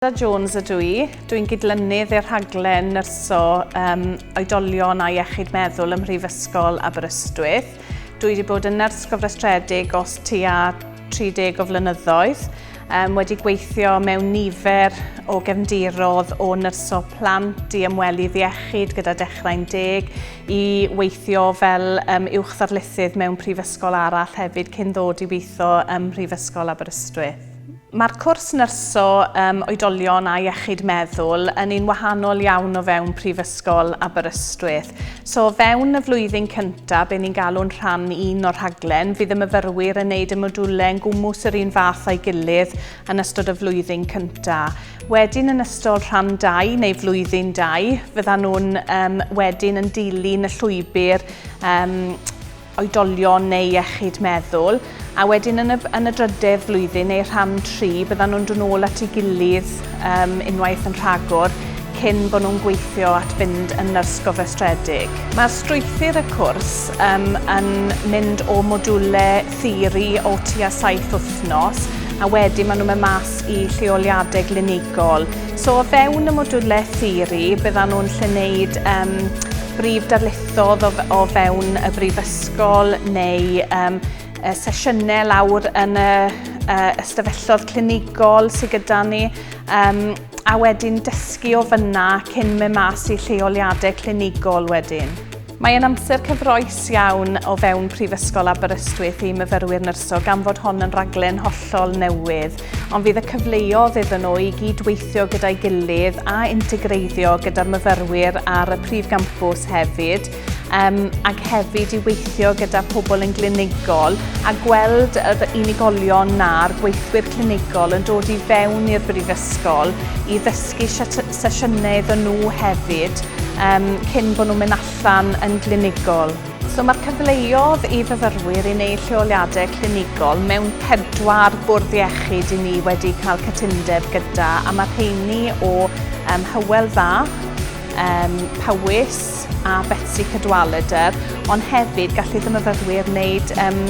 Lisa Jones ydw i. Dw i'n gydlynydd i'r rhaglen nyrsio um, oedolion a iechyd meddwl ym Mhrifysgol Aberystwyth. Dw i wedi bod yn nyrs gofrestredig os tua 30 o flynyddoedd, um, wedi gweithio mewn nifer o gefndirodd o nyrsio plant i ymwelydd iechyd gyda dechrau'n deg, i weithio fel um, uwch ddarlithydd mewn prifysgol arall hefyd cyn ddod i weithio ym Mhrifysgol Aberystwyth. Mae'r cwrs nyrsio um, oedolion a iechyd meddwl yn un wahanol iawn o fewn Prifysgol Aberystwyth. So o fewn y flwyddyn cyntaf, be ni'n galw'n rhan un o'r rhaglen, fydd y myfyrwyr yn neud y modiwlau yn gwmws yr un fath a'i gilydd yn ystod y flwyddyn cyntaf. Wedyn yn ystod rhan 2 neu flwyddyn 2, fyddan nhw'n um, wedyn yn dilyn y llwybr um, oedolion neu iechyd meddwl, a wedyn yn y, yn y drydedd flwyddyn neu rhan tri, byddan nhw'n dod nôl at ei gilydd um, unwaith yn rhagor cyn bod nhw'n gweithio at fynd yn nyrs gofrestredig. Mae'r strwythur y cwrs um, yn mynd o modiwle theori o tua saith wythnos a wedyn maen nhw'n mynd mas i lleoliadau glinigol. So o fewn y modiwle theori byddan nhw'n lle wneud um, brif darlithiau ddodd o, o fewn y brifysgol neu um, sesiynau lawr yn y uh, ystafellodd clinigol sydd gyda ni um, a wedyn dysgu o fyna cyn mynd mas i lleoliadau clinigol wedyn. Mae yn amser cyfroes iawn o fewn Prifysgol Aberystwyth i myfyrwyr nyrsio gan fod hon yn raglen hollol newydd. ond fydd y cyfleodd iddyn nhw i gyd-weithio gyda'i gilydd a integreiddio gyda'r myfyrwyr ar y prif gampws hefyd, um, ac hefyd i weithio gyda pobl yn glinigol a gweld yr unigolion na'r gweithwyr clinigol yn dod i fewn i'r brifysgol i ddysgu sesiynau iddyn nhw hefyd um, cyn bod nhw'n mynd allan yn glinigol. So mae'r cyfleodd i fyfyrwyr i wneud lleoliadau clinigol mewn pedwar bwrdd iechyd i ni wedi cael cytundeb gyda a mae rheini o um, Hywel Dda, um, Powys a Betsi Cadwaladr, ond hefyd gallu ddim myfyrwyr wneud um,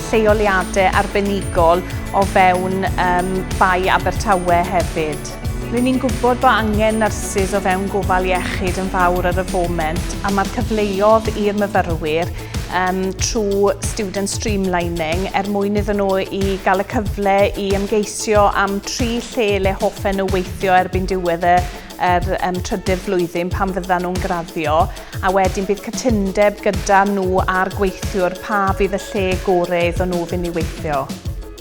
lleoliadau arbenigol o fewn um, Bai Abertawe hefyd. Rydyn ni'n gwybod bod angen nyrsys o fewn gofal iechyd yn fawr ar y foment a mae'r cyfleodd i'r myfyrwyr um, trwy student streamlining er mwyn iddyn nhw i gael y cyfle i ymgeisio am tri lle le hoffen nhw weithio erbyn diwedd y yr um, trydydd flwyddyn pan fyddan nhw'n graddio a wedyn bydd cytundeb gyda nhw a'r gweithiwr pa fydd y lle gorau iddyn nhw fynd i weithio.